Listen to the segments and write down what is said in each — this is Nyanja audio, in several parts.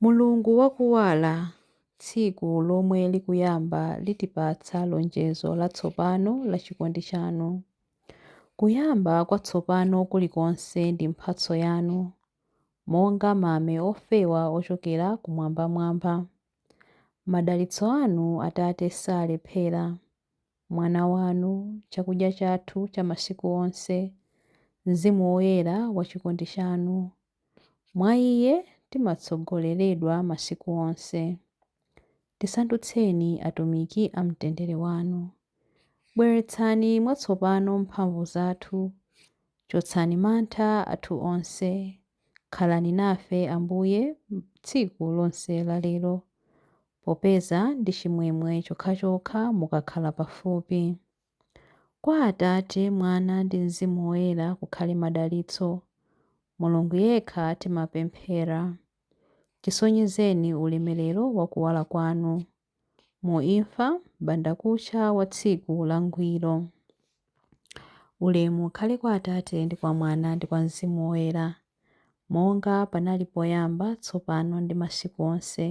Mulungu wa kuwala, tsiku lomwe likuyamba litipatsa lonjezo latsopano la chikondi chanu. Kuyamba kwatsopano kulikonse ndi mphatso yanu, monga mame ofewa ochokera kumwambamwamba. Madalitso anu, Atate, salephera. Mwana wanu, chakudya chathu cha masiku onse, Mzimu Woyera wa chikondi chanu. Mwa Iye timatsogoleredwa masiku onse. Tisandutseni atumiki a mtendere wanu. Bweretsani mwatsopano mphamvu zathu. Chotsani mantha athu onse. Khalani nafe, Ambuye, tsiku lonse la lero. popeza ndi chimwemwe chokhachokha mukakhala pafupi. Kwa Atate, Mwana ndi Mzimu Woyera kukhale madalitso, Mulungu yekha timapemphera. Tisonyezeni ulemerero wa kuwala kwanu. Mu imfa, m'bandakucha wa tsiku langwiro. Ulemu ukhale kwa Atate ndi kwa Mwana ndi kwa Mzimu Woyera. monga panali poyamba, tsopano ndi masiku onse,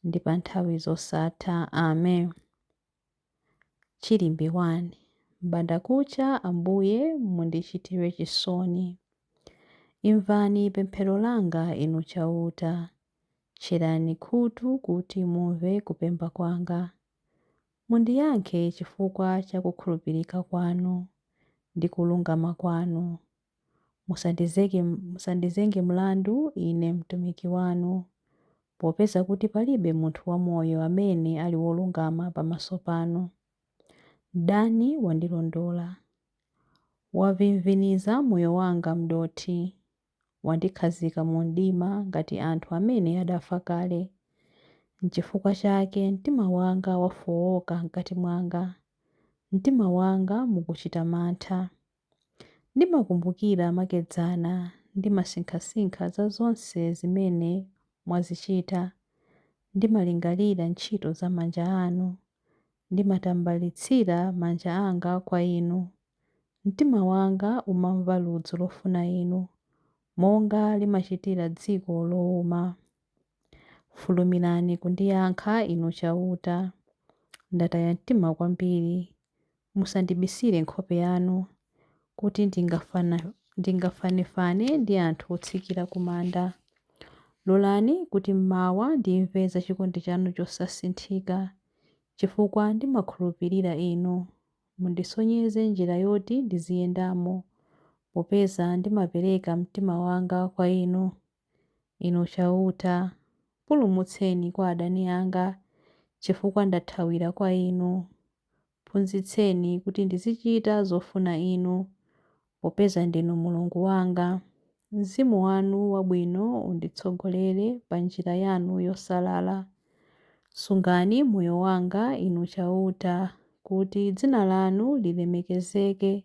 ndi pa nthawi zosatha. Amen. Chilimbi 1. M'bandakucha, Ambuye, mundichitire chisoni. Imvani pemphero langa, Inu Chauta. Tcherani khutu kuti mumve kupemba kwanga. Mundiyankhe chifukwa cha kukhulupirika kwanu ndi kulungama kwanu. Musandizeke, musandizenge mlandu ine mtumiki wanu, popeza kuti palibe munthu wamoyo amene ali wolungama pamaso panu. Mdani wandilondola. Wavimviniza moyo wanga m'dothi. Wandikhazika mumdima ngati anthu amene adafa kale. Nchifukwa chake mtima wanga wafooka mkati mwanga. Mtima wanga mukuchita mantha. Ndimakumbukira makedzana ndimasinkhasinkha za zonse zimene mwazichita, ndimalingalira ntchito za manja anu, ndimatambalitsira manja anga kwa Inu. Mtima wanga umamva ludzu lofuna Inu, monga limachitira dziko louma. Fulumirani kundiyankha, Inu Chauta. Ndataya mtima kwambiri, Musandibisire nkhope yanu kuti ndingafanefane ndi anthu otsikira ku manda. Lolani kuti mmawa ndimve za chikondi chanu chosasinthika, chifukwa ndimakhulupirira Inu. Mundisonyeze njira yoti ndiziyendamo, popeza ndimapereka mtima wanga kwa Inu. Inu Chauta, pulumutseni kwa adani anga, chifukwa ndathawira kwa Inu. Phunzitseni kuti ndizichita zofuna Inu, popeza ndinu Mulungu wanga. Mzimu wanu wabwino unditsogolere pa njira yanu yosalala. Sungani moyo wanga, Inu Chauta, kuti dzina lanu lilemekezeke.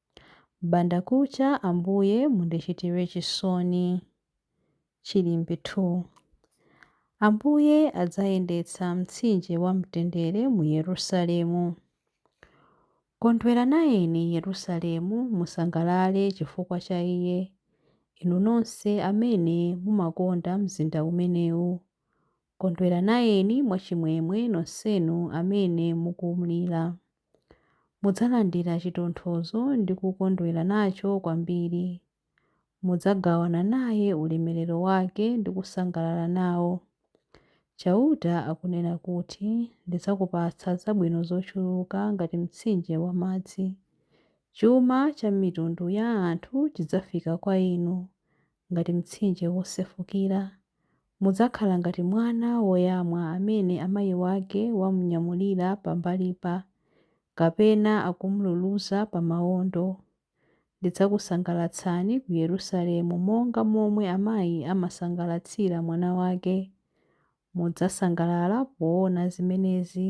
M'bandakucha Ambuye mundichitire chisoni. Chilimbi 2 Ambuye adzayendetsa mtsinje wa mtendere mu Yerusalemu. Kondwera nayeni Yerusalemu, musangalale chifukwa cha iye, inu nonse amene mumakonda mzinda umenewu. Kondwera nayeni mwachimwemwe nonsenu amene mukumlira. Mudzalandira chitonthozo ndi kukondwera nacho kwambiri. Mudzagawana naye ulemerero wake ndi kusangalala nawo. Chauta akunena kuti, Ndidzakupatsa zabwino zochuluka ngati mtsinje wa madzi. Chuma cha mitundu ya anthu chidzafika kwa inu ngati mtsinje wosefukira, Mudzakhala ngati mwana woyamwa amene amayi wake wamunyamulira pambalipa, kapena akum'luluza pa mawondo. Ndidzakusangalatsani ku Yerusalemu monga momwe amayi amasangalatsira mwana wake. Mudzasangalala poona zimenezi.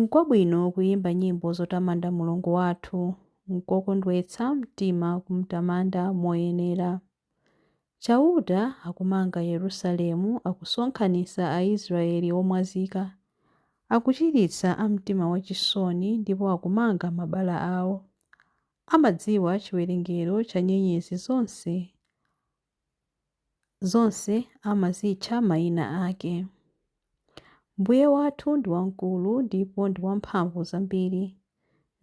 Nkwabwino kuyimba nyimbo zotamanda Mulungu wathu, nkokondwetsa mtima kumtamanda moyenera. Chauta akumanga Yerusalemu, akusonkhanitsa Aisraele omwazika, akuchiritsa a mtima wachisoni, ndipo akumanga mabala ao. Amadziwa chiwerengero cha nyenyezi zonse. Zonse amazitcha mayina ake. Mbuye wathu ndi wamkulu ndipo ndi wamphamvu zambiri.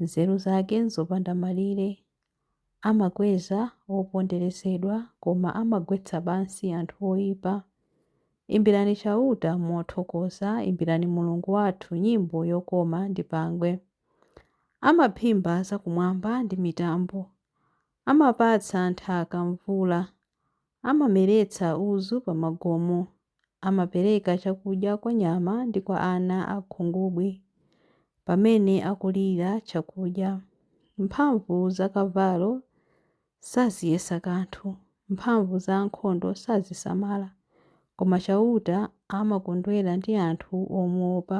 Nzeru zake n'zopanda malire. Amakweza oponderezedwa koma amagwetsa pansi anthu oipa. Imbirani Chauta mothokoza, imbirani Mulungu wathu nyimbo yokoma ndi pangwe. Amaphimba zakumwamba ndi mitambo. Amapatsa nthaka mvula, amameretsa udzu pamagomo, amapereka chakudya kwa nyama ndi kwa ana a khungubwi pamene akulira chakudya. Mphamvu za kavalo saziyesa kanthu, mphamvu za ankhondo sazisamala, koma Chauta amakondwera ndi anthu omuwopa,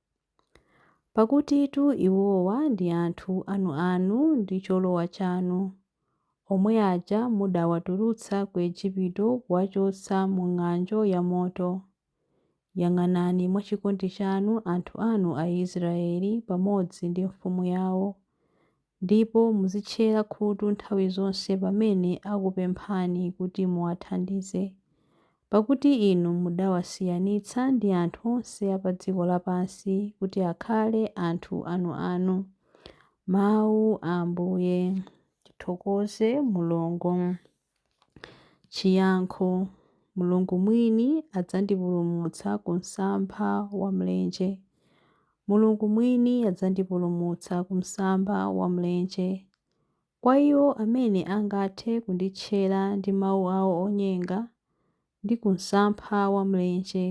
Pakutitu iwowa ndi anthu anuanu ndi cholowa chanu, omwe aja mudawatulutsa ku Ejipito kuwachotsa mu ng'anjo ya moto. Yang'anani mwachikondi chanu anthu anu Aisraeli pamodzi ndi mfumu yao, Ndipo muzitchera khutu nthawi zonse pamene akupemphani kuti muwathandize. Pakuti inu mudawasiyanitsa ndi anthu onse a pa dziko lapansi kuti akhale anthu anuanu. Mawu a Ambuye. Tithokoze Mulungu. Chiyankho, Mulungu mwini adzandipulumutsa ku msampha wa mlenje. Mulungu mwini adzandipulumutsa ku msampha wa mlenje. Kwa iwo amene angathe kunditchera ndi mawu awo onyenga, ndi ku msampha wa mlenje.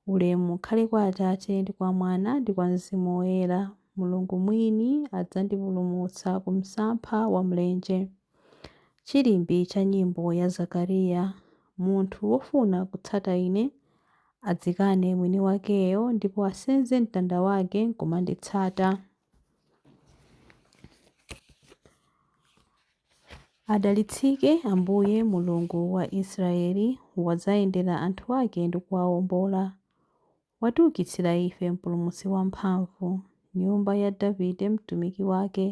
Ulemu ukhale kwa Atate, ndi kwa Mwana, ndi kwa Mzimu Woyera, Mulungu mwini adzandipulumutsa ku msampha wa mlenje. Chilimbi cha nyimbo ya Zakariya, Munthu wofuna kutsata Ine, adzikane mwini wakeyo, ndipo asenze mtanda wake nkumanditsata. Adalitsike Ambuye, Mulungu wa Israeli, wadzayendera anthu ake ndi kuwawombola. Watiukitsira ife Mpulumutsi wamphamvu, nyumba ya Davide mtumiki wake,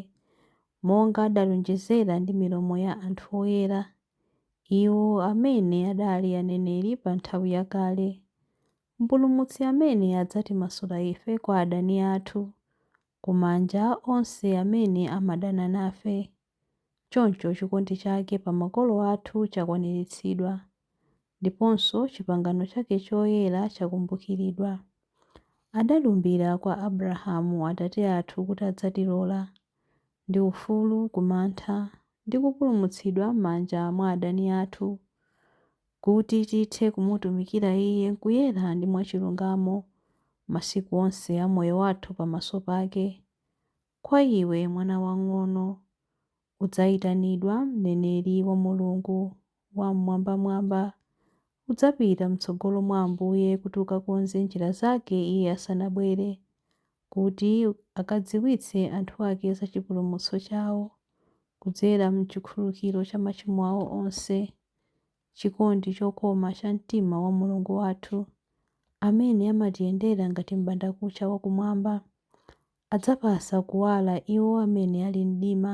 monga adalonjezera ndi milomo ya anthu oyera, iwo amene adali aneneri pa nthawi yakale, Mpulumutsi amene adzatimasula ife kwa adani athu, ku manja onse amene amadana nafe. Choncho chikondi chake pa makolo athu chakwaniritsidwa, ndiponso chipangano chake choyera chakumbukiridwa. Adalumbira kwa Abrahamu atate athu kuti adzatilola, ndi ufulu ku mantha, ndi kupulumutsidwa m'manja mwa adani athu, kuti tithe kumutumikira Iye m'kuyera ndi mwachilungamo masiku onse a moyo wathu pamaso pake. Kwa iwe, mwana wang'ono, udzayitanidwa mneneri wa Mulungu Wam'mwambamwamba. Udzapita m'tsogolo mwa Ambuye kuti ukakonze njira zake Iye asanabwere. kuti akadziwitse anthu ake za chipulumutso chawo kudzera m'chikhululukiro cha machimo awo onse, chikondi chokoma cha mtima wa Mulungu wathu, amene amatiyendera ngati m'bandakucha wa kumwamba, adzapatsa kuwala iwo amene ali m'mdima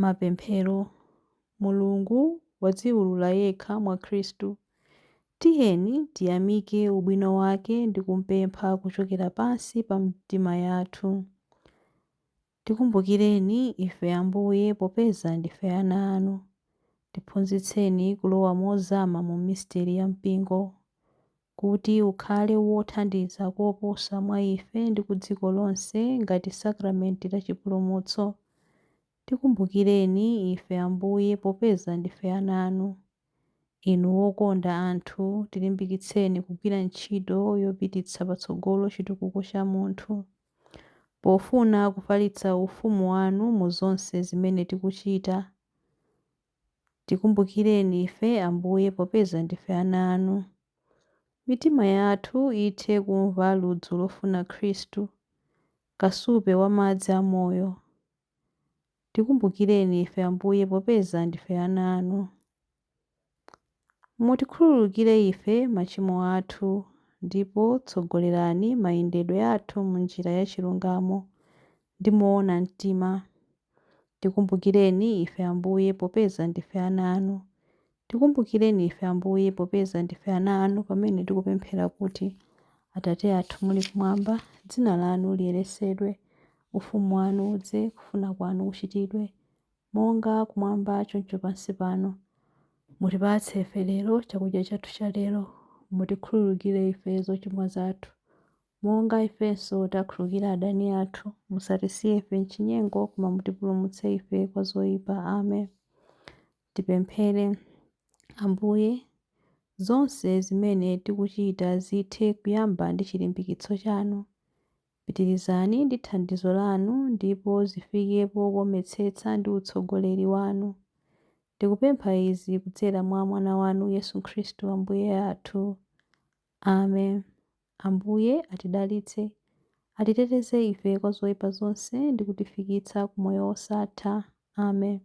Mapemphero, Mulungu wadziulula yekha mwa Khristu. Tiyeni tiyamike ubwino wake ndi kumpempha kuchokera pansi pa mitima yathu. Tikumbukireni ife, Ambuye, popeza ndife ana anu. Tiphunzitseni kulowa mozama mu misteri ya mpingo. kuti ukhale wothandiza koposa mwa ife ndi ku dziko lonse ngati sakramenti la chipulumutso. Tikumbukireni ife, Ambuye, popeza ndife ana anu. Inu wokonda anthu, tilimbikitseni kugwira ntchito yopititsa patsogolo chitukuko cha munthu, pofuna kufalitsa Ufumu wanu mu zonse zimene tikuchita. Tikumbukireni ife, Ambuye, popeza ndife ana anu. Mitima yathu ithe kumva ludzu lofuna Khristu, kasupe wa madzi a moyo. Tikumbukireni ife, Ambuye, popeza ndife ana anu. Mutikhululukire ife machimo athu, ndipo tsogolerani mayendedwe athu m'njira ya chilungamo ndi moona mtima. Tikumbukireni ife, Ambuye, popeza ndife ana anu. Tikumbukireni ife, Ambuye, popeza ndife ana anu pamene tikupemphera kuti, Atate athu muli kumwamba, dzina lanu liyeretsedwe, ufumu wanu udze, kufuna kwanu kuchitidwe, Monga kumwamba choncho pansi pano, mutipatse ife lero chakudya chathu cha lero, mutikhululukire ife zochimwa zathu, monga ifenso takhululukira adani athu, musatisiye ife m'chinyengo, koma mutipulumutse ife kwa zoyipa. Amen. Tipemphere. Ambuye, zonse zimene tikuchita zithe kuyamba ndi chilimbikitso chanu. Pitirizani ndi thandizo lanu ndipo zifike pokometsetsa ndi utsogoleri wanu. Tikupempha izi kudzera mwa Mwana wanu Yesu Khristu Ambuye athu. Amen. Ambuye atidalitse, atiteteze ife kwa zoipa zonse ndi kutifikitsa ku moyo wosatha. Amen.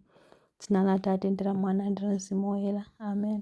M'dzina la Atate ndi la Mwana ndi la Mzimu Woyera. Amen.